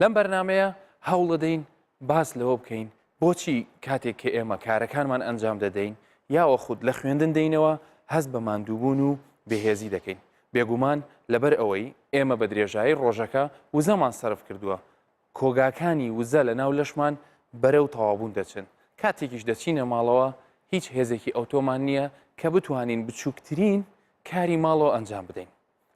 لەم بەرنامەیە هەوڵەدەین باس لەوە بکەین بۆچی کاتێک کە ئێمە کارەکانمان ئەنجام دەدەین یاوە خود لە خوێندن دەینەوە هەست بە ماندووبوون و بەهێزی دەکەین بێگومان لەبەر ئەوەی ئێمە بە درێژایی ڕۆژەکە وزەمان سرف کردووە کۆگاکانی وزە لە ناو لەشمان بەرەو تەوابوون دەچن کاتێکیش دەچینە ماڵەوە هیچ هێزێکی ئەوتۆمان نییە کە بتوانین بچووکترین کاری ماڵەوە ئەنجام بدەین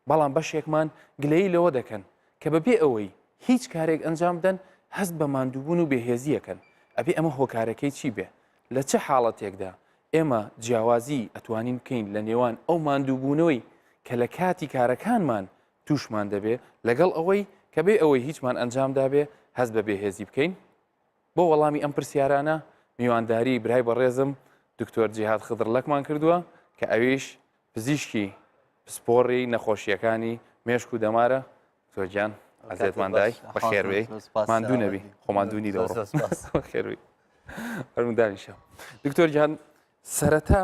بەڵام بەشێکمان گلەیی لەوە دەکەن کە بەبێ ئەوەی هیچ کارێک ئەنجام بدەن هەست بە ماندووبوون و بێهێزی ئەکەن، ئەبێ ئەمە هۆکارەکەی چی بێ؟ لە چ حاڵەتێکدا ئێمە جیاوازی ئەتوانین بکەین لە نێوان ئەو ماندووبوونەوەی کە لە کاتی کارەکانمان تووشمان دەبێ لەگەڵ ئەوەی کە بێ ئەوەی هیچمان ئەنجام دابێ هەست بە بێهێزی بکەین؟ بۆ وەڵامی ئەم پرسیارانە میوانداری برای بەڕێزم دکتۆر جیهاد خدرلەکمان کردووە کە ئەویش پزیشکی پسپۆڕی نەخۆشییەکانی مێشک و دەمارە دکتۆر گیان ئەزێتمان دای بەخێربێی ماندوو نەبی خۆماندوونی لە خێروی هەرمدانیشە دکتۆر گیان سەرەتا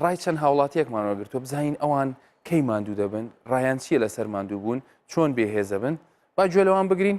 ڕای چەند هاوڵاتیەکمانەوە گرتووە بزانین ئەوان کەی ماندوو دەبن ڕایان چییە لەسەر ماندوو بوون چۆن بێهێزە بن با گوێ لەوان بگرین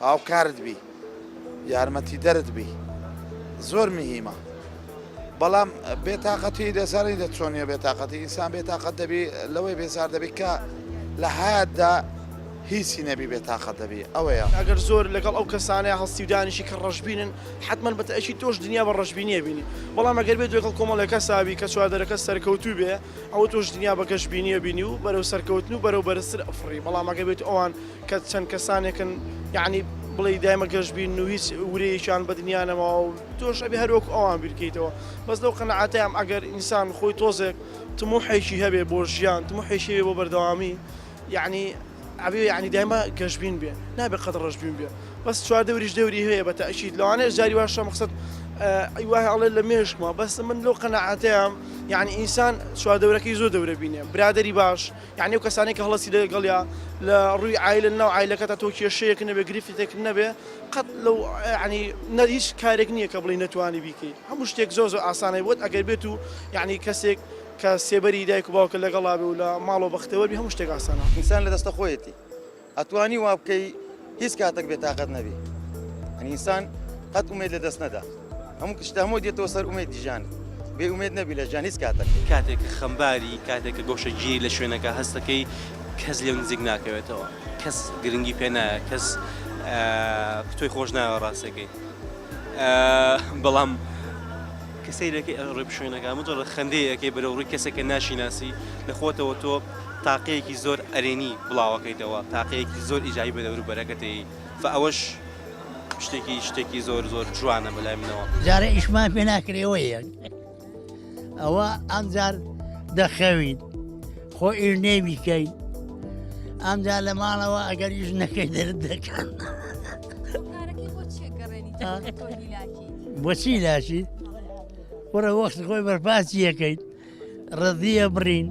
هاوکارت بی یارمەتی دەرت بی زۆر مهمە بەڵام بێتاقەتی دەزانانی دە چۆنیە بێتاقەتی ئینسان بێتاقەت دەبی لەوەی بێزار دەبی کە لە هادا هیچی نەبی بێتاقەت دەبی ئەوەیە ئەگەر زۆر لەگەڵ ئەو کەسانەیە هەڵسیودانیشی کە ڕژبینن حتمما بە تاکی تۆش دنیا بە ڕژبینیە بینی بەڵام ئەگەر بێت لەگەڵ کۆمەڵەکە ساوی کە چواردەرەکە سەرکەوتوو بێ ئەوە تۆش دنیا بە گەشببینیە بینی و بەرەو سەرکەوتن و بەرەو بەرزتر ئەفڕی بەڵام ئەگەر بێت ئەوان کە چەند کەسانێکن یەعنی بڵێی دایمە گەش بین و هیچ ورەیەکیان بە دنیا نەماوە و تۆش ئەبێ هەر وەکو ئەوان بیر کەیتەوە بەس لەو قەناعەتەیام ئەگەر ئینسان خۆی تۆزێک تموحێکی هەبێ بۆ ژیان تموحێکی هەبێ بۆ بەردەوامی یەعنی ئەبێ یەعنی دایمە گەش بین بێ نابێ قەت ڕەش بین بێ بەس چوار دەوریش دەوری هەیە بە تەئکید لەوانەیە جاری واشە مەقسەد ئەی واه ئەڵێ لە مێشکمە بەس من لەو قەناعەتەیام یەعنی ئینسان چوار دەورەکەی زۆر دەورە بینێ برادەری باش یانی ئەو کەسانەی کە هەڵەسی لەگەڵیا لە ڕووی عایلە ناو عایلەکەتا تۆ کێشەیەک نەبێ گرفتێک نەبێ قەت لەو ینی نەر هیچ کارێک نییە کە بڵی نەتوانی بیکەی هەموو شتێک زۆ زۆ ئاسانەی بۆت ئەگەر بێت و یعنی کەسێک کە سێبەری دایک و باوکە لەگەڵا بێ و لە ماڵەوە بەختەوەبی هەموو شتێک ئاسانە ئینسان لە دەستە خۆیەتی. ئەتوانی وابکەی هیچ کاتەک بێ تاقەت نەبی ئەنی ئینسان قەت ئومێد لە دەست نەدا هەموو کشتە هەموو دێتەوە سەر ئومێد دیژان بێ ئومێد نەبی لە ژان هیچ کاتەک کاتێک کە خەمباری کاتێک کە گۆشەگیری لە شوێنەکە هەستەکەی کەس لێو نزیک ناکەوێتەوە کەس گرنگی پێ نایە کەس تۆی خۆش ناوە ڕاستەکەی بەڵام کەسەیرەکە ڕێ شوێنەکە مجرڕ خەندەیەکەی بەرەوڕووی کەسێکە ناشیناسی لە خۆتەوە تۆ تاقیەکی زۆر ئەرێنی بڵاوەکەیتەوە تاقیەکی زۆر ئیجابی بە دەورو بەرەکەتەیی فە ئەوەش شتێکی شتێکی زۆر زۆر جوانە بەلای منەوە. جارێ ئیشمان پێ ناکرێ وە یەک ئەوە ئەمجار دەخەوین خۆ ئیش نێ بیکەین ئەمجا لە ماڵەوە ئەگەر ئیش نەکەی دەرت دەکەن بۆچی لاشی وەرە وەخت خۆی بەرپاسی یەکەیت ڕزیە بڕین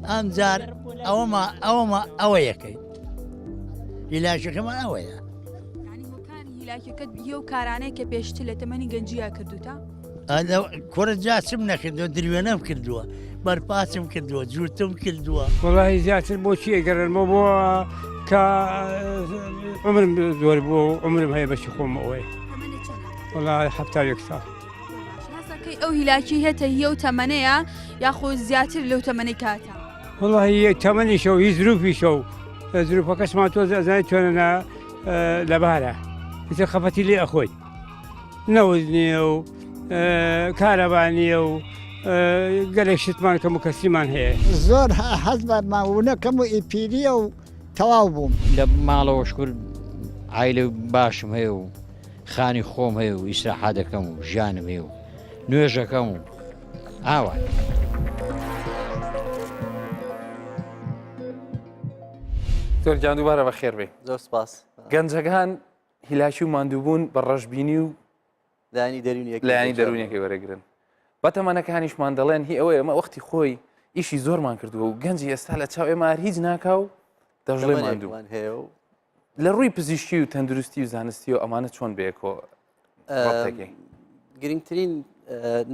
ئەمجار ئەوەما ئەوەما ئەوە یەکەی هیلاکەکەمان ئەوەیە هیلاکەکەت یە و کارانەیە کە پێشتر لە تەمەنی گەنجیا کردوتە کورە جاچم نەکردو دروێنەم کردووە بەرپاچم کردووە جووتم کردووە وڵی زیاتر بۆچی ئەگەرمە بۆ کە عمرم زۆر بووە و عمرم هەیە بەشی خۆم ئەوەیە وڵی هەفتا یەک ساڵ هەسەکەی ئەو هیلاکی هێتە یە و تەمەەیە یاخۆ زیاتر لەو تەمەەی کاتە وڵی تەمەنیشە و هی زروفیشە و زروفە کەسمان تۆ زانای توێنە لەبارە چ خەفەتی لێ ئەخۆی نەوز نییە و کارەبانیە و گەلێک شتمان کەم و کەسیمان هەیە زۆر حەز بەمان وونەکەم و ئیپیریە و تەواو بووم لە ماڵەوە شکرد ئایلە باشم هەیە و خانی خۆم هەیە و ئیسراحا دەکەم و ژیانم هەیە و نوێژەکەم و ئاوات. تۆر گیان دووبارە بە خێربێ زۆر سپاس گەنجەکان هیلاکی و مادووبوون بە ڕەشببینی و لانی دەرونی لایانی دەرونیەکەی وەرەگرن بە تەمەەکانیشمان دەڵێن هی ئەوەیە ئەمە وەختی خۆی ئیشی زۆرمان کردووە و گەنجی ئێستا لە چاو ئێمار هیچ ناکا و دەژڵێ مادووان هەیە و لە ڕووی پزیشکی و تەندروستی و زانستیەوە ئەمانە چۆن بەیەکۆ گرنگترین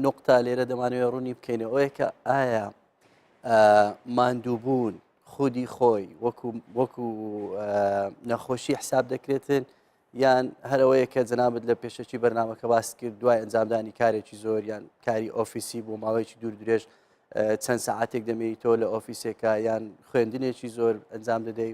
نقطتا لێرە دەمانوێت ڕوونی بکەینە ئەوەیە کە ئایا ماندووبوون خودی خۆی وەکو وەکو نەخۆشی حساب دەکرێتن یان هەرەوەیە کە جەنابەت لە پێشەکی بەرنمەکە باس کرد دوای ئەنجامدانی کارێکی زۆر یان کاری ئۆفیسی بۆ ماوەیەکی دوور درێژ چەند ساعتێک دەمێنیتەوە لە ئۆفیسێکە یان خوێندنێکی زۆر ئەنجام دەدەی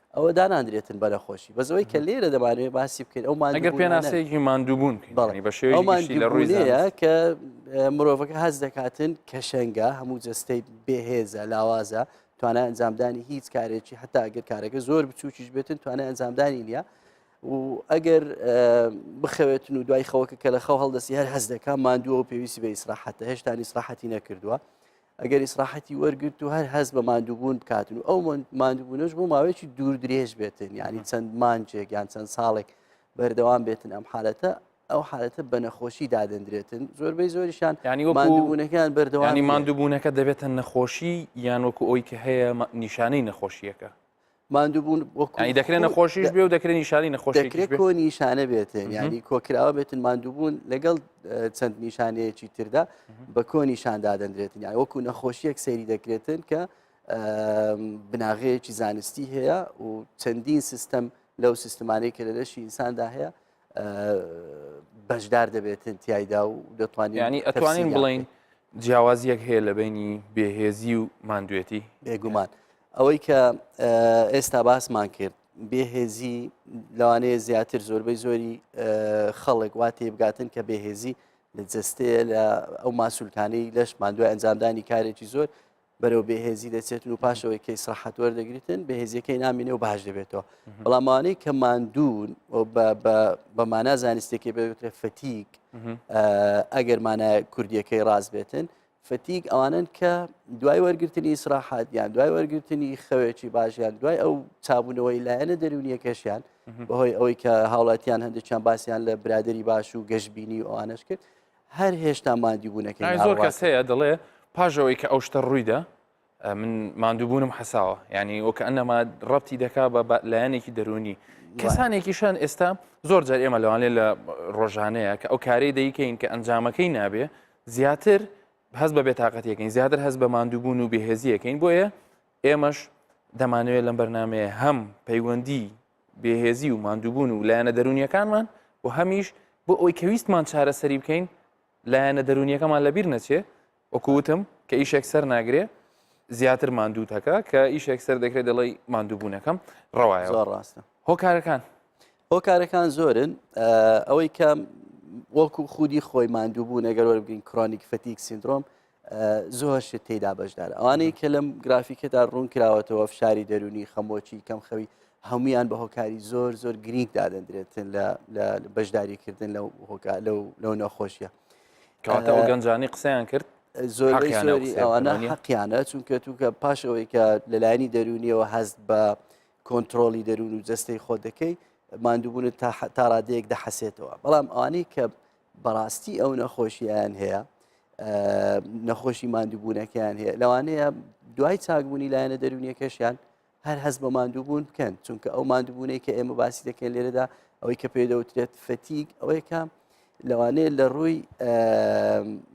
ئەوە دانانرێتن بەنەخۆشی بەس ئەوەی کە لێرە دەمانوێ باسی بکەین ئەو ئەگەر پێناسەیەکی ماندووبوون بەڵی بە شێوەی مانگی لە ڕوویەیە کە مرۆڤەکە هەز دەکاتن کەشەنگە هەموو جەستەی بێهێزە لاوازە توانای ئەنجامدانی هیچ کارێکی حتا ئەگەر کارەکە زۆر بچووکیش بێتن توانای ئەنجامدانی نییە و ئەگەر بخەوێتن و دوای خەوەکە کە لە خەو هەڵدەسی هەر هەز دەکە ماندووە و پێویستی بە ئیسراحەتە هێشتانی سراحەتی نەکردووە ئەگەر ئیسراحەتی وەرگرت و هەر هەست بە ماندووبوون بکاتن و ئەو ماندووبوونەش بۆ ماوەیەکی دوور درێژ بێتن ینی چەند مانجێک یان چەند ساڵێک بەردەوام بێتن ئەم حالەتە ئەو حالەتە بە نەخۆشی دادەندرێتن زۆربەی زۆریشان ینی وەماندووبوونەکەیان بەردەوانی ماندووبوونەکە دەبێتە نەخۆشی یان وەکو ئەوی کە هەیە نیشانەی نەخۆشیەکە ماندووبوون دەکرێن نەخۆشیش بێ و دەکرێن نیشانی نەخۆشی کۆ نیشانە بێتن ینی کۆکراوە بێتن ماندووبوون لەگەڵ چەند نیشانەیەکی تردا بە کۆ نیشان دادەندرێتن یا وەکو نەخۆشیەک سەیری دەکرێتن کە بناغەیەکی زانستی هەیە و چەندین سیستەم لەو سیستمانەی کە لە لەشی ئینساندا هەیە بەشدار دەبێتن تایدا و دەتوانین ینی ئەتوانین بڵین جیاوازیەک هەیە لە بینی بێهێزی و ماندوێتی بێگومان. ئەوەی کە ئێستا باسمان کرد بێهێزی لەوانەیە زیاتر زۆربەی زۆری خەڵک وا تێبگاتن کە بێهێزی لە جستەیە لە ئەو ماسوولکانەی لەشمان دوای ئەنجامدانی کارێکی زۆر بەرەو بێهێزی دەچێتن و پاشەوەی کەی سرحەت وەردەگریتن بەهێزیەکەی نامینێ و باش دەبێتەوە بەڵامانەی کە ماندوون بە مانا زانستێکی بەوترێ فتیک ئەگەر مانای کوردیەکەی ڕاست بێتن فتیگ ئەوانن کە دوای وەرگرتنی ئیسراحات یان دوای وەرگرتنی خەوێکی باشیان دوای ئەو چابوونەوەی لایەنە دەرونیەکەشیان بەهۆی ئەوەی کە هاوڵاتیان هەندێکیان باسییان لە برادری باش و گەشتبینی و ئەوانش کرد هەر هێشتا مادیبوونەکەی زۆر کەس هەیە دەڵێ پاژەوەی کە ئەو شتە ڕوویدا من ماندووبوونم حەساوە یعنی وەکە ئەنەما ڕەتی دەکا بە لایەنێکی دەرونی کەسانێکیشان ئێستا زۆر جار ئێمە لەوانێ لە ڕۆژانەیە کە ئەو کارەی دەیکەین کە ئەنجامەکەی نابێ زیاتر هەز بە بێتاقەتەکەین زیاتر هەز بە ماندووبوون و بێهێزیەکەین بۆیە ئێمەش دەمانوێت لەم بەرنمەیە هەم پەیوەندی بێهێزی و ماندووبوون و لایەنە دەرونیەکانمان و هەمیش بۆ ئەوی کەویستمان چارەسەری بکەین لایەنە دەرونیەکەمان لەبیر نەچێ وەکو وتم کە ئیشێک سەر ناگرێ زیاتر ماندوو تەکە کە ئیشێک سەر دەکرێت دەڵی ماندووبوونەکەم ڕەوایە زۆر ڕاستە هۆکارەکان هۆکارەکان زۆرن ئەوەی کە وەکو خودی خۆی ماندووبوو نەگەر وەربگرین کرۆنیک فەتیک سندرۆم زۆر شت تێدا بەشدار ئەوانەی کە لەم گرافیکەدا ڕوون کراوەتەوە فشاری دەرونی خەمۆکی کەم خەوی هەمویان بە هۆکاری زۆر زۆر گرینگ دادەندرێتن لە بەشداریکردن لەو هۆکار لەو نەخۆشیە کاتە ئەو گەنجانی قسەیان کرد زۆری ئەوانە حەقییانە چونکە توکە پاش ئەوەی کە لەلایەنی دەرونیەوە هەست بە کۆنتترۆلی دەروون و جەستەی خۆ دەکەی مادووبوونت تا ڕادەیەک دەحەسێتەوە بەڵام ئەوانەی کە بەڕاستی ئەو نەخۆشییان هەیە نەخۆشی مادووبوونەکەیان هەیە لەوانەیە دوای چاکبوونی لایەنە دەرونیەکەشیان هەر هەست بە ماندووبوون بکەن چونکە ئەو ماندووبوونەی کە ئێمە باسی دەکەین لێرەدا ئەوەی کە پێی دەوترێت فەتیک ئەوەی کە لەوانەیە لە ڕووی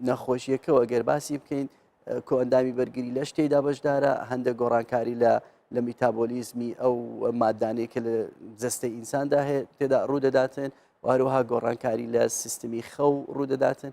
نەخۆشیەکەەوە گەر باسی بکەین کۆئەندامی بەرگری لە شتێدا بەشدارە هەندە گۆڕانکاری لە لە میتابۆلیزمی ئەو مادانەیە کە لە جستەی ئینساندا هەیە تێدا ڕوودەداتن واروها گۆڕانکاری لە سیستمی خەو ڕوودەداتن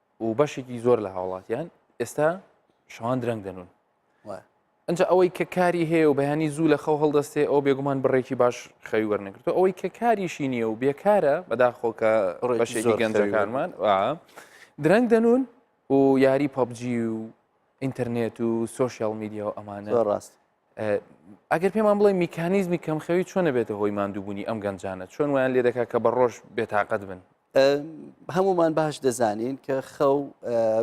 و بەشێکی زۆر لە هاوڵاتیان ئێستا شەوان درەنگ دەنون ئەجا ئەوەی کە کاری هەیە و بەیانی زوو لە خەو هەڵدەستێ ئەو بێگومان بڕێکی باش خەوی وەرنگرتو ئەوەی کە کاریشی نییە و بێکارە بەداخۆکە بەشێکی گەنجەکانمان درەنگ دەنون و یاری پەبجی و ئینتەرنێت و سوۆشیال میدیا و ئەمانە ڕاست ئەگەر پێمان بڵێ میکانیزمی کەم خەوی چۆنە بێتە هۆی مادووبوونی ئەم گەنجانە چۆن ویان لێ دەکات کە بە ڕۆژ بێتاقەت بن هەموومان باش دەزانین کە خەو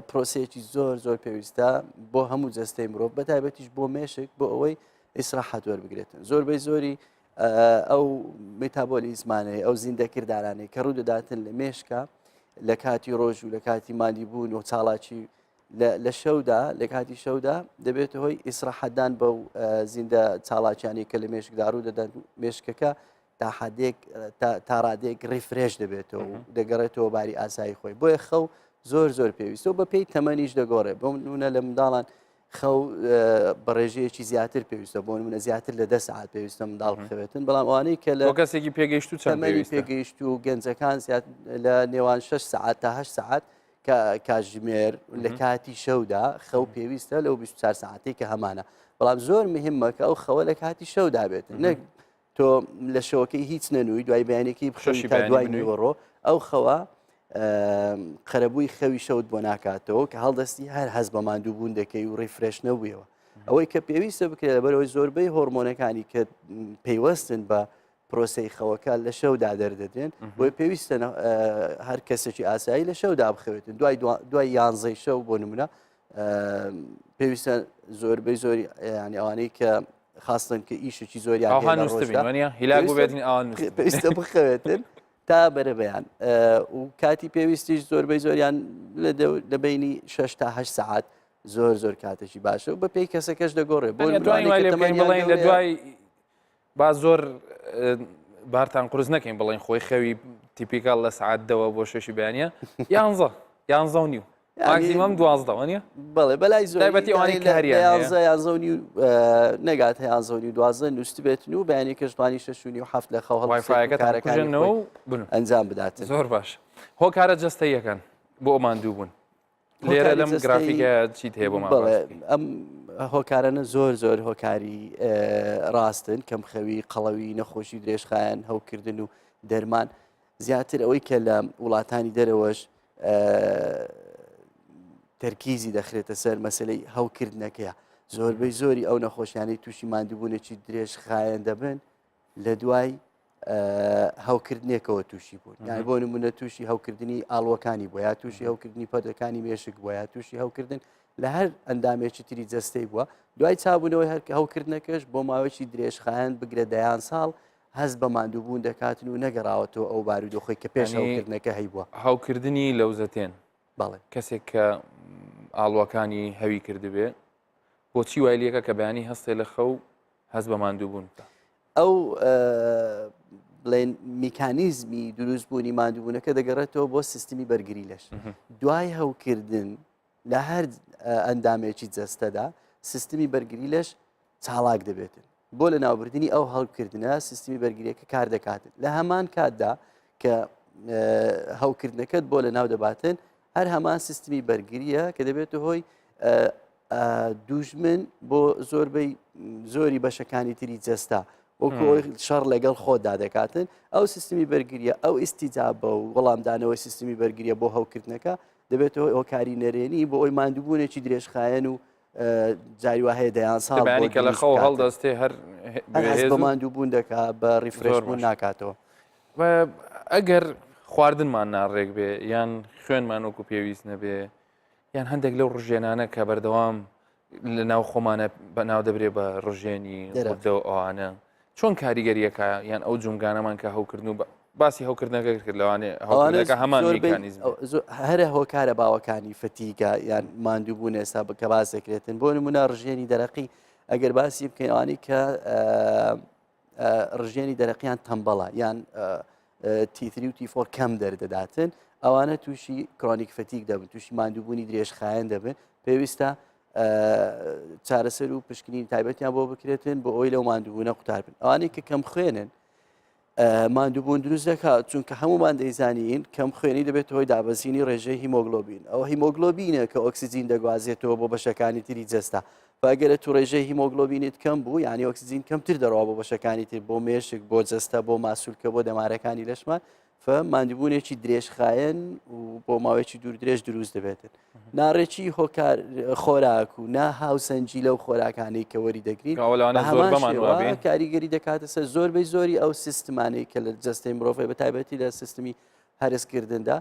پرۆسەیەکی زۆر زۆر پێویستە بۆ هەموو جەستەی مرۆڤ بە تایبەتیش بۆ مێشک بۆ ئەوەی ئیسراحەت وەربگرێتن زۆر بەی زۆری ئەو میتابۆلی زمانەی ئەو زیندەکردارانەی کە ڕوو دەداتن لە مێشکە لە کاتی ڕۆژ و لە کاتی مادی بوون و چاڵاکی لە شەودا لە کاتی شەودا دەبێت هۆی ئیسراحەتدان بە زیندە چاڵاکیانی کە لە مێشکدار و دەدەن مێشکەکە تاحدێک تاڕادێک ڕیفرێش دەبێتەوە و دەگەڕێتەوە باری ئاسایی خۆی بۆیە خەو زۆر زۆر پێویستەوە بە پێی تەمەنیش دەگۆڕێ بۆ نونە لە منداڵان خەو بە ڕێژەیەکی زیاتر پێویستە بۆ منە زیاتر لە دە ساعت پێویستە منداڵ بخەوێتن بەڵام ئەوانەی کە لە کەسێکی پێگەیشت و چەمەری پێگەیشت و گەنجەکان زیات لە نێوان 6 ساعت تا هە ساعت کە کاژمێر لە کاتی شەودا خەو پێویستە لەو 24 ساعتی کە هەمانە بەڵام زۆر مهمە کە ئەو خەوە لە کاتی شەودا بێت نەک تۆ لە شەوەکەی هیچ نەنووی دوای بەیانێکی بخشی تا دوای نیوەڕۆ ئەو خەوە قەرەبووی خەوی شەوت بۆ ناکاتەوە کە هەڵدەستی هەر هەز بە ماندووبوون دەکەی و ڕیفرێش نەبوویەوە ئەوەی کە پێویستە بکرێت لەبەرەوەی زۆربەی هۆرمۆنەکانی کە پەیوەستن بە پرۆسی خەوەکە لە شەودا دەردەدرێن بۆی پێویستە هەر کەسێکی ئاسایی لە شەودا بخەوێتن دوای دوای یانزەی شەو بۆ نمونە پێویستە زۆربەی زۆری ینی ئەوانەی کە خاستن کە ئیشێکی زۆری پێویستە بخەوێتن تا بەرەبیان و کاتی پێویستیش زۆربەی زۆریان لە بینی 6 تا 8 سعات زۆر زۆر کاتێکی باشە و بە پێی کەسەکەش دەگۆڕێ بۆ دوای با زۆر بارتان قرس نەکەین بڵین خۆی خەوی تیپیکال لە سعات دەوە بۆ شەشی بەیانە یانزە یانزە و نیو ماکسیمم دوازدەوە نیە بڵێ بەلای زۆربەتی ئەوانی کاریانزە یانزە و نیو نەگات یانزە و نیو دوازدە نووسست بێتن و بەیانی کەشتوانی شەشونی و هەفت لە خەو هەڵایفاەکەکارەکانەوە ئەنجام بدات زۆر باش هۆکارە جستەیەکەن بۆ ئەمان دوو بوون لێرە لەم گرافیکە چیت هەیە بۆمان ئەم هۆکارانە زۆر زۆر هۆکاری ڕاستن کەم خەوی قەڵەوی نەخۆشی درێژخایەن هەوکردن و دەرمان زیاتر ئەوەی کە لە وڵاتانی دەرەوەش تەرکیزی دەخرێتە سەر مەسلەی هەوکردنەکەیە زۆربەی زۆری ئەو نەخۆشیانەی تووشی مادووبوونێکی درێژ خایەن دەبن لە دوای هەوکردنێکەوە تووشی بوون یان بۆ نمونە تووشی هەوکردنی ئاڵوەکانی بۆ یا تووشی هەوکردنی پەردەکانی مێشک بۆ یا تووشی هەوکردن لە هەر ئەندامێکی تری جەستەی بووە دوای چابوونەوەی هەرکە هەوکردنەکەش بۆ ماوەیەکی درێژخایەن بگرە دەیان ساڵ هەز بە مادووبوون دەکاتن و نەگەڕاوەتەوە ئەو بارودۆخی کە پێش هەوکردنەکە هەیبووە هەوکردنی لەوزەتێن بەڵێ کەسێک کە ئاڵوەکانی هەوی کردبێ بۆچی وای لەکە کە بەیانی هەستێ لە خەو هەست بە ماندووبوون بکە ئەو بڵێن میکانیزمی دروست بوونی مادوونەکە دەگەڕێتەوە بۆ سیستمی بەرگری لەش دوای هەوکردن لە هەر ئەندامێکی جەستەدا سیستمی بەرگری لەش چاڵاک دەبێتن بۆ لە ناوبردننی ئەو هەڵکردە سیستمی بەرگریەکە کار دەکاتن لە هەمان کاتدا کە هەوکردنەکەت بۆ لە ناو دەباتن هەر هەمان سیستمی بەرگریە کە دەبێتە هۆی دوژمن بۆ زۆربەی زۆری بەشەکانی تری جەستا وەکۆ شەڕ لەگەڵ خۆدا دەکاتن ئەو سیستمی بەرگریە ئەو ئیسیجابە و وەڵامدانەوەی سیستمی بەرگریە بۆ هەوکردنەکە دەبێتەوە ئۆکاری نەرێنی بۆ ئەوی مادووبوونێکی درێژخایەن و جاری وهەیە دەیان ساڵ کە لە خەو هەڵدەستێ هەر بەماندوو بوون دەکا بە ڕیفرۆرمون ناکاتەوە ئەگەر خواردنمان ناڕێک بێ یان خوێنمان وەکو پێویست نەبێ یان هەندێک لەو ڕژێنانە کە بەردەوام لە ناو خۆمانە بە ناو دەبرێ بە ڕژێنی دەرەوە ئەوانە چۆن کاریگەریەکە یان ئەو جومگانەمان کە هەوکردن و باسی هەوکردنەکە کرد لەوانێ هەوانەکە هەمان هەرە هۆکارە باوەکانی فتیگە یان ماندوو بوون ئێستا بکە باسێکرێتن بۆ نمونە ڕژێنی دەرەقی ئەگەر باسی بکەیوانی کە ڕژێنی دەرەقیان تەمبەڵە یان تیتری و تیفۆر کەم دەردەداتن ئەوانە تووشی کرۆنیک فتیک دەبن تووشی ماندووبوونی درێژخایەن دەبن پێویستە چارەسەر و پشکنین تایبەتیان بۆ بکرێتن بۆ ئەوی لەو مادوبوونە قوتاربن ئەوانەی کە کەم خوێنن مادوبوون دروست دەکات چونکە هەمومان دەیزانین کەم خوێنی دەبێت هۆی دابەزینی ڕێژەی هیمۆگلۆبین ئەو هیمۆگلۆبینە کە ئۆکسسیجین دەگوازێتەوە بۆ بەشەکانی تری جەستا باگەرە تو ڕێژەی هیمۆگلۆبینت کەم بوو یعنی ئۆکسسیجین کەمتر دەڕوا بۆ بەشەکانی تر بۆ مێشک بۆ جەستە بۆ ماسوولکە بۆ دەمارەکانی لەشمان فە ماندبوونێکی درێژخایەن و بۆ ماوەیەکی دوور درێژ دروست دەبێتن ناڕێکی هۆکار خۆراک و نا هاوسەنجی لەو خۆراکانەی کە وەری دەگرین هەمان کاریگەری دەکاتە سەر زۆربەی زۆری ئەو سیستمانەی کە لە جستەی مرۆڤی بە تایبەتی لە سیستمی هەرسکردندا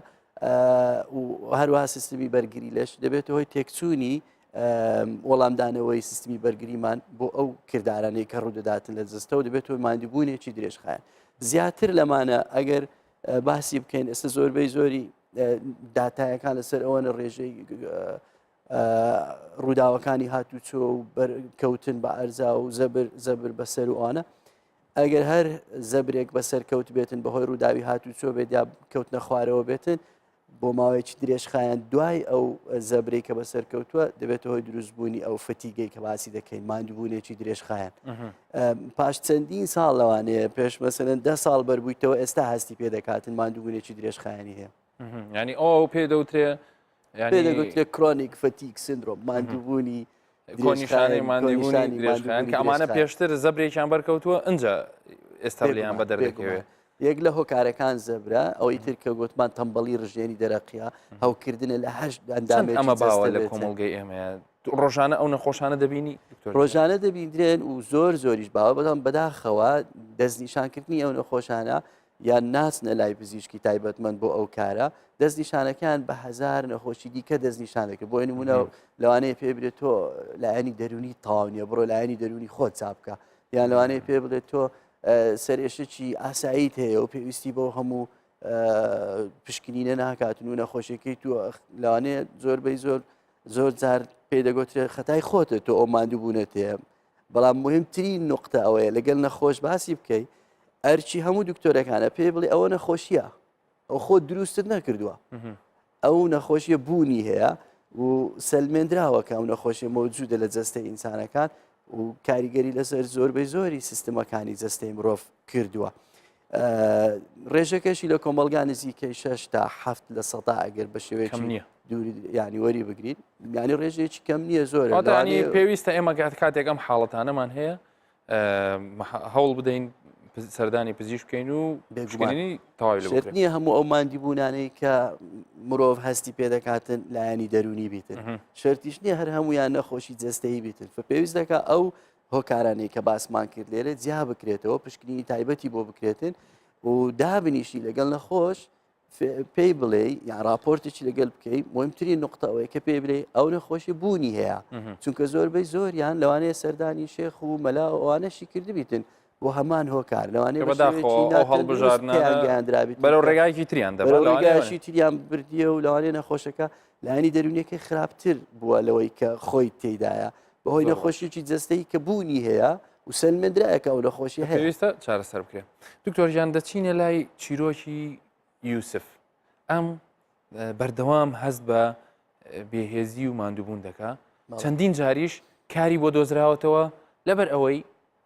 و هەروها سیستمی بەرگری لەش دەبێت هۆی تێکچوونی وەڵامدانەوەی سیستمی بەرگریمان بۆ ئەو کردارانەی کە ڕوودەداتن لە جستەوە دەبێتەوە مادیبوونێکی درێژخایەن زیاتر لەمانە ئەگەر باسی بکەین ئێستا زۆربەی زۆری داتایەکان لەسەر ئەوە لە ڕێژەی ڕووداوەکانی هاتوچۆ و کەوتن بە ئەرزا و زەبر زەبر بەسەر وانە ئەگەر هەر زەبرێک بەسەر کەوت بێتن بەهۆی ڕووداوی هاتوچۆ بێت یا کەوتنە خوارەوە بێتن بۆ ماوەیەکی درێژخایەن دوای ئەو زەبرەی کە بەسەر کەوتووە دەبێتە هۆی دروستبوونی ئەو فتیگەی کە باسی دەکەین مادووبوونێکی درێژخایەن پاش چەندین ساڵ لەوانەیە پێش مەسەن ده ساڵ بەربوویتەوە ئێستا هەستی پێ دەکاتن مادووبوونێکی درێژخایانی هەیە ینی ئەو ئەو پێ دەوترێ دەگوترێت کرۆنیک فەتیک سندرۆم مادووبوونی کۆنیشانی مادووبوونی درێژخیان کە ئەمانە پێشتر زەبرێکیان بەرکەوتووە ئەجا ئێستا لێیان بە دەردەکەوێت یەک لە هۆکارەکان زەبرا ئەوەی تر کە گوتمان تەمبەڵی ڕژێنی دەرەقیا هەوکردنە لە هەشت ئەندامێک ئەمە باوە لە کۆمەڵگەی ئێمەیە ڕۆژانە ئەو نەخۆشانە دەبینی ڕۆژانە دەبیندرێن و زۆر زۆریش باوە بەڵام بەداخەوە دەستنیشانکردنی ئەو نەخۆشانە یان ناچنە لای پزیشکی تایبەتمەند بۆ ئەو کارە دەستنیشانەکان بە هزار نەخۆشی دیکە دەستنیشان دەکە بۆ نمونە لەوانەیە پێ بێت تۆ لایەنی دەرونی تاونیە بڕۆ لایەنی دەرونی خۆت چاپکە یان لەوانەیە پێ بڵێت تۆ سەرێشتکی ئاساییت هەیە و پێویستی بۆ هەموو پشکنینە ناکاتن و نەخۆشیەکەی تو لەوانەیە زۆربەی زۆر زۆر جار پێدەگوترێت خەتای خۆتە تۆ ئەو ماندوو بوونەتێ بەڵام مهمتری نقطە ئەوەیە لەگەل نەخۆش باسی بکەی ئەرچی هەموو دکتۆرەکانە پێ بڵێ ئەوە نەخۆشیە ئەو خۆ دروستت نەکردووە ئەو نەخۆشیە بوونی هەیە و سلمێنراوە کە ئەو نەخۆشیە مەوجودە لە جەستە ئینسانەکان و کاریگەری لەسەر زۆربەی زۆری سیستمەکانی جەستەی مرۆڤ کردووە ڕێژەکەشی لە کۆمەلگا نزیکەی 6 تا هەفت لە سەدا ئەگەر بە شێوەیەکەم نییە دووری ینی وەری بگرین ینی ڕێژێکی کەم نییە زۆر پێویستە ئێمە گات کاتێک ئەم حاڵەتانەمان هەیە هەوڵ بدەین سەردانی پزیش بکەین و بێگومانی تاوێت نییە هەموو ئەو مادی بوونانەی کە مرۆڤ هەستی پێ دەکاتن لایەنی دەرونی بیتن شرتیش نییە هەر هەمویان نەخۆشی جستەی بیتن پێویست دەکە ئەو هۆکارانەی کە باسمان کرد لێرە جیا بکرێتەوە پشکنینی تایبەتی بۆ بکرێتن و دابنیشی لەگەڵ نەخۆش پێی بڵێ یا راپۆرتێکی لەگەل بکەی مهمترین نقطە ئەوەیە کە پێ بلێ ئەو نەخۆشی بوونی هەیە چونکە زۆربەی زۆریان لەوانەیە سەردانی شێخ و مەلا ئەوانەشی کردبیتن بۆ هەمان هۆکار لەوانەیە بەداخەوە ئەو هەڵبژاردنیان گەیاندرابیت بەرەو ڕێگایکی تریان دەبەرگایشی تریان بردیە و لەوانێ نەخۆشەکە لایانی دەرونیەکەی خراپتر بووە لەوەی کە خۆی تێدایە بەهۆی نەخۆشیی جستەی کە بوونی هەیە و سەلمەندرایەکە ئەو نەخۆشی هەویستە چارەسەر بکرێت دکتۆریان دەچینە لای چیرۆکی یوسف ئەم بەردەوام هەست بە بێهێزی و ماندووبوون دەکا چەندین جاریش کاری بۆ دۆزراوەتەوە لەبەر ئەوەی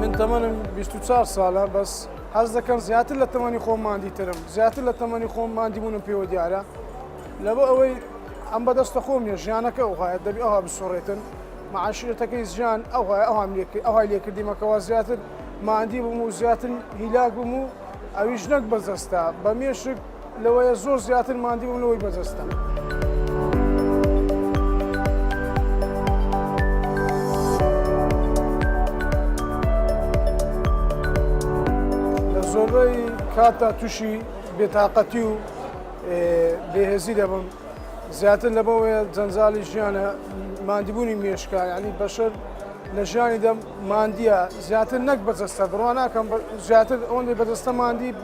من تەمەنم 24 ساڵە بەس حەز دەکەم زیاتر لە تەمەنی خۆم مادی ترم زیاتر لە تەمەنی خۆم مادی بوونم پێوە دیارە لەبە ئەوەی ئەم بەدەستە خۆم نیە ژیانەکە ئەوهایە دەبی ئەوها بسۆڕێتن معاشرەتەکەی ژیان ئەوهای ئەوام لێکرد ئەوهای لێکردیمەکەەوە زیاتر مادی بووم و زیاتر هیلاک بووم و ئەویش نەک بەزەستا بە مێشک لەوەیە زۆر زیاتر ماندی بووم لەوەی بەدەستم. زۆربەی کاتدا تووشی بێتاقەتی و بێهێزی دەبم زیاتر لە بەوەیە جەنجالی ژیانە مادیبوونی مێشکە ینی بەشەر لە ژیانی دەم مادیە زیاتر نەک بەجەستە بڕواناکەم زیاتر ئەوەندەی بەدەستە مادی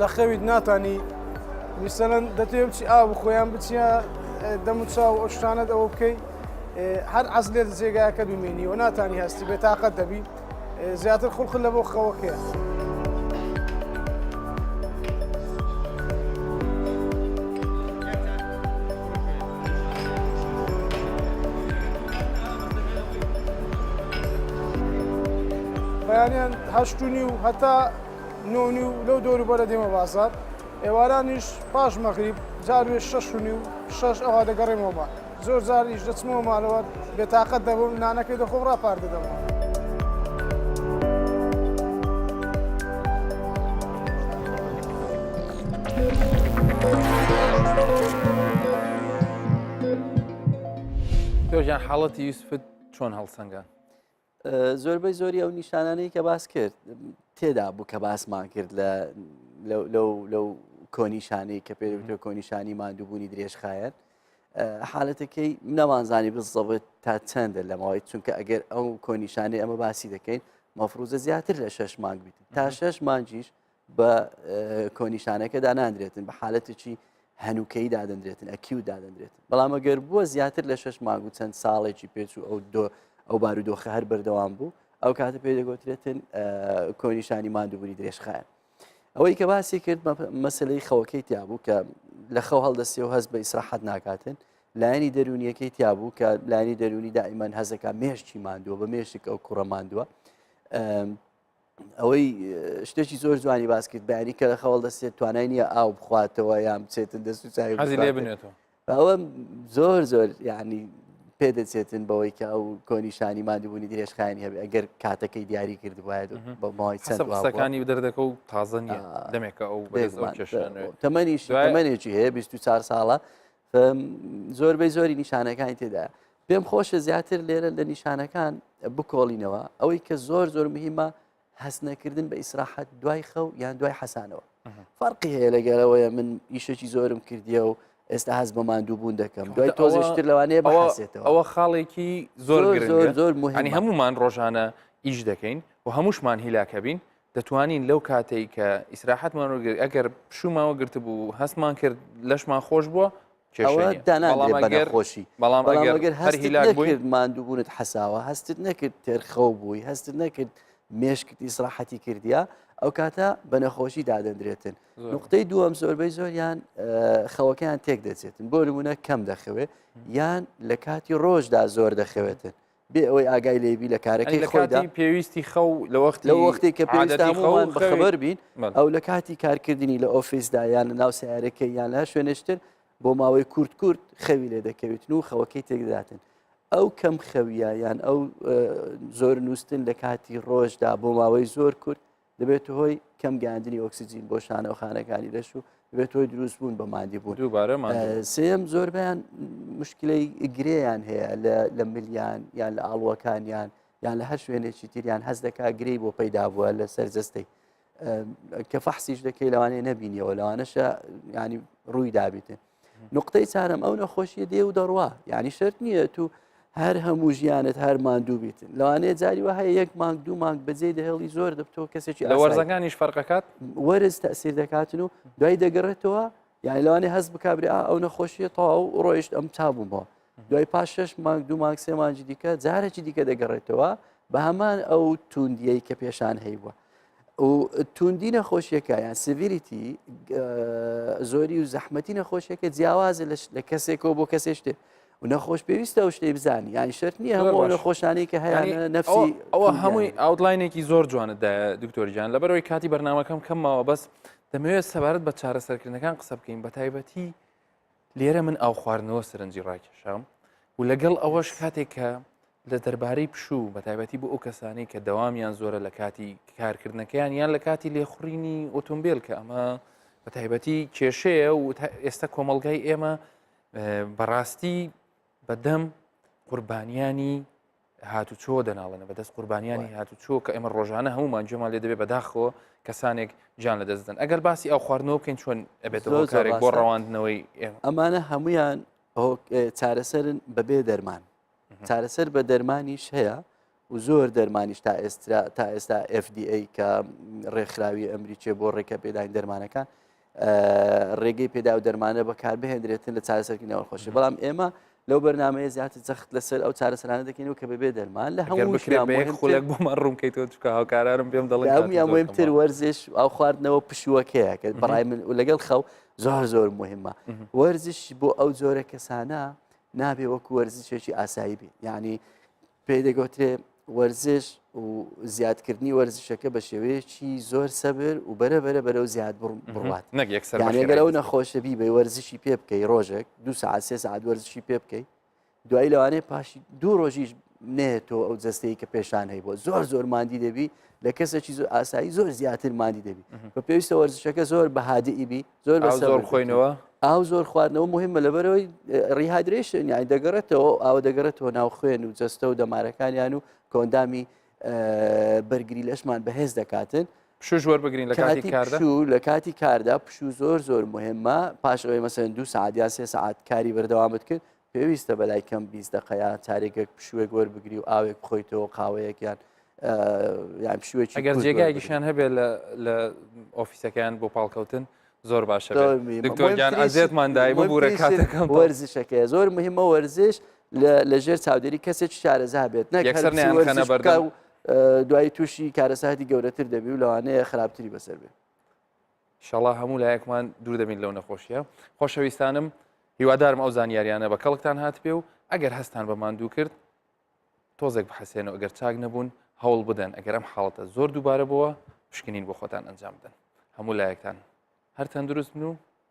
لە خەویت ناتانی میسەلەن دەتێ بچی ئاو بخۆیان بچە دەم و چاو ئەو شتانت ئەوە بکەیت هەر عەز لێت جێگاکە بمێنی و ناتانی هەستی بێتاقەت دەبی زیاتر خوڵخل لە بۆ خەوەکەیە. بەیانیان هەشتنی و هەتا نۆ و نیو لەو دەوروبەرە دێمە بازاڕ، ئێوارانیش پاش مەغریب جار وێ شەش و نیو شەش ئەوا دەگەڕێمەوە ماڵ. زۆر جاریش دەچمەوە مالەوە بێتاقەت دەبم نانەکەی دەخۆم راپار دەدەمەوە. تۆ گیان حاڵەتی یوسفت چۆن هەڵسەنگاند؟ زۆربەی زۆری ئەو نیشانانەی کە باس کرد تێدا بوو کە باسمان کرد لە لەو کۆنیشانی کە پێ کۆنیشانی مادووبوونی درێژخایەن حالەتەکەی نەمانزانی بزەبێت تا چەندە لەماوەی چونکە ئەگەر ئەو کۆنیشانی ئەمە باسی دەکەین مەفروزە زیاتر لە شش مانگ بیت تا شش مانجیش بە کۆنیشانەکە داناندرێتن بە حالەتێکی هەنووکەی دادەندرێتن ئەکیو دادەندرێتن بەڵام ئەگەر بووە زیاتر لە شش ماگ و چەند ساڵێکی پێچ و ئەو دۆ ئەو بارودۆخە هەر بەردەوام بوو ئەو کاتە پێ دەگوترێتن کۆنیشانی مادوبووری درێژخایە ئەوەی کە باسی کرد مەسلەی خەوەکەی تیابوو کە لە خەو هەڵدەستی و هەست بە ئیسراحەت ناکاتن لایەنی دەرونیەکەی تیابوو کە لانی دەرونی دائیمان هەزەکە مێشتی مادووە بە مێشک ئەو کوڕە مادووە ئەوەی شتێکی زۆر جوانی باس کرد بەیانی کە لە خەوڵ دەستێت توانای نییە ئاو بخواتەوە یان بچێتن دەست و چای حەزی لێ بنێتەوە ئەوە زۆر زۆر یعنی پێ دەچێتن بەوەی کە ئەو کۆنیشانی مادوبوونی درێژخانی هەبێ ئەگەر کاتەکەی دیاری کرد وایە بە ماوەی چەندەکانی و دەردەکە و تازە نیە دەمێکە ئەو تەمەنیش تەمەێکی هەیە 24 ساڵە زۆربەی زۆری نیشانەکانی تێدا پێم خۆشە زیاتر لێرە لە نیشانەکان بکۆڵینەوە ئەوەی کە زۆر زۆر مهمە هەست نەکردن بە ئیسراحەت دوای خەو یان دوای حەسانەوە فەرقی هەیە لەگەرەوەیە من ئیشێکی زۆرم کردیە و ئێستا هەز بە ماندوو بوون دەکەم دوای تۆزیشتر لەوانەیە بەواسێتەوە ئەوە خاڵێکی زۆر زۆر زۆر مهنی هەمومان ڕۆژانە ئیش دەکەین و هەمووشمان هیلاکە بین دەتوانین لەو کاتەی کە ئیسراحەتمان وەرگرت ئەگەر پشومان وەگرت بوو هەستمان کرد لەشمان خۆش بووە داناخۆشی بەڵام ئەگەر هەرهی لاگوێت مادووبوونت حەساوە هەستت نەکرد تێرخەو بووی هەستت نەکرد مێشکت ئیسراحەتی کردیا ئەو کاتە بە نەخۆشی دادەندرێتن نقطەی دووەم زۆربەی زۆریان خەوەکەیان تێک دەچێتن بۆ نمونە کەم دەخەوێت یان لە کاتی ڕۆژدا زۆر دەخەوێتن بێ ئەوەی ئاگای لێ بی لە کارەکەی خۆیدا پێویستی خەو لە وەخت لە وەختی کە پێویستە هەمووان بەخەبەر بین ئەو لە کاتی کارکردنی لە ئۆفیسدا یان لە ناو سیارەکەی یان لە شوێنشتر بۆ ماوەی کورت کورت خەوی لێ دەکەویتن و خەوەکەی تێکداتن ئەو کەم خەویە یان ئەو زۆر نووسن لە کاتی ڕۆژدا بۆ ماوەی زۆر کورت دەبێتە هۆی کەم گەاندنی ئۆکسسیجین بۆ شانەوەخانەکانی لەش و دەبێت هۆی دروست بوون بە مادی بوون دووبارەمان سم زۆربیان مشکلەی گرێیان هەیە لە ملیان یان لە ئاڵوەکانیان یان لە هەر شوێنێکی تریان هەز دەکا گرێی بۆ پەیدا بووە لە سەرجەستەی کە فەحسیش دەکەی لەوانەیە نەبینیەوە لەوانەشە ینی ڕووی دابیتن نقطەی چارم ئەو نەخۆشیە دێ و دەڕوا یعنی شرت نییە تو هەر هەموو ژیانت هەر ماندوو بیتن لەوانەیە جاری وە هەیە یەک مانگ دوو مانگ بەجێ دەهێڵی زۆر دەبتۆ کەسێکی لە وەرزەکانیش فەرقەکات وەرز تەسیر دەکاتن و دوای دەگەڕێتەوە یعنی لەوانێ هەست بکبرێ ئەو نەخۆشیە تەواو ڕۆیشت ئەم چابوومەوە دوای پاش شەش مانگ دوو مانگ سێ مانجی دیکە جارێکی دیکە دەگەڕێتەوە بە هەمان ئەو توندیەی کە پێشان هەیوە و توندی نەخۆشیەکە یان سڤریتی زۆری و زەحمەتی نەخۆشیەکە جیاوازە لە کەسێکەوە بۆ کەسێ شتێ و نەخۆش پێویستە و شتەی بزانانی یان شەر نییە هەموو نەخۆشانی کە هەیە نفسی ئەوە هەمووی ئاودلاینێکی زۆر جوانتدا دکتۆریان لەبەرەوەی کاتی بەرنمەکەم کەمەوە بەس دەمەوێت سەبارەت بە چارەسەرکردنەکان قسە بکەین بە تایبەتی لێرە من ئاو خواردنەوە سەرنجی ڕاکێشام و لەگەڵ ئەوەش کاتێک کە لە دەربارەی پشوو بە تایبەتی بۆ ئەو کەسانی کە دەوامیان زۆرە لە کاتی کارکردنەکەیان یان لە کاتی لێخڕینی ئۆتۆمبیل کە ئەمە بە تایبەتی کێشەیە و ئێستا کۆمەلگای ئێمە بەڕاستی بەدەم قوربانیانی هاتوچۆ دەناڵێنە بەدەست قوربانیانی هاتوچۆ کە ئێمە ڕۆژانە هەمومان جێمان لێ دەبێت بەداخەوە کەسانێک جان لە دەستدن ئەگەر باسی ئەو خواردنەوە بکەین چۆن ئەبێت کارێک بۆ ڕەواندنەوەی ئەمانە هەمویان چارەسەرن بەبێ دەرمان چارەسەر بە دەرمانیش هەیە و زۆر دەرمانیش تا ئێستا تا ئێستا FDA کە ڕێکخراوی ئەمریکیە بۆ ڕێکە پێداین دەرمانەکان ڕێگەی پێدا و دەرمانە بەکاربهێنرێتن لە چارەسەرکی ناوەخۆشی بەڵام ئێمە لەو بەرنمەیە زیاتر جەخت لەسەر ئەو چارەسەرانە دەکەین و کە بەبێ دەرمان لە هەمووخولێک بۆمان ڕوونکەی تۆ چکە هاوکارارم پێم دەڵێ مهمتر وەرزش ئەو خواردنەوە پشووەکەیە کە بەڕای من و لەگەڵ خەو زۆر زۆر مهمە وەرزش بۆ ئەو جۆرە کەسانە نابێ وەکو وەرزشێکی ئاسایی بێ یعنی پێی دەگوترێ وەرزش و زیادکردنی وەرزشەکە بە شێوەیەکی زۆر سەبر و بەرە بەرە بەرەو زیاد بڕات نەگەر ئەو نەخۆشە بی بە وەرزشی پێ بکەی ڕۆژێک دو سعات سێ سعات وەرزشی پێ بکەی دوایی لەوانەیە پاشی دوو ڕۆژیش نێتەوە ئەو جستەیە کە پێشان هەی بۆ زۆر زۆر مادی دەبی لە کەسێکی زۆر ئاسایی زۆر زیاتر مادی دەبی بە پێویستە وەرزشەکە زۆر بەهادئیبی زۆر بە زۆر خۆینەوە ئاو زۆر خواردنەوە مهمە لەبەرەوەی ڕیهادرێشن یانی دەگەڕێتەوە ئاوە دەگەڕێتەوە ناو خوێن و جەستە و دەمارەکانیان و کۆندامی بەرگری لەشمان بەهێز دەکاتن پشوش وەربگرین لە کاتی کاردا و لە کاتی کاردا پشو زۆر زۆر مهمە پاش ئەوەی مەسەن دو سعادیان سێ سعات کاری بەردەوامت کرد پێویستە بەلای کەم بیست دقەیە چارێکێک پشوێک وەربگری و ئاوێک بخۆیتەوە قاوەیەکیان یان پشوێکی گەر جێگایگیشان هەبێت لە ئۆفیسەکەیان بۆ پاڵکەوتن زۆر باشە دکتۆرگیان ئازێتمان دای ببوورە کاتەکەم وەرزشەکە زۆر مهمە وەرزش لە ژێر چاودێری کەسێک شارەزا بێت نەکەسەرنیانەبەر دوای تووشی کارەساتی گەورەتر دەبی و لەوانەیە خراپتری بەسەر بێت شەڵا هەموو لایەکمان دوور دەبین لەو نەخۆشیە خۆشەویستانم هیوادارم ئەو زانیاریانە بە کەڵکتان هات پێ و ئەگەر هەستان بە ماندوو کرد تۆزێک بحەسێن و ئەگەر چاک نەبوون هەوڵ بدەن ئەگەر ئەم حاڵەتە زۆر دووبارە بووە پشکنین بۆ خۆتان ئەنجام بدەن هەموو لایەکتان هەر تەندروست بن و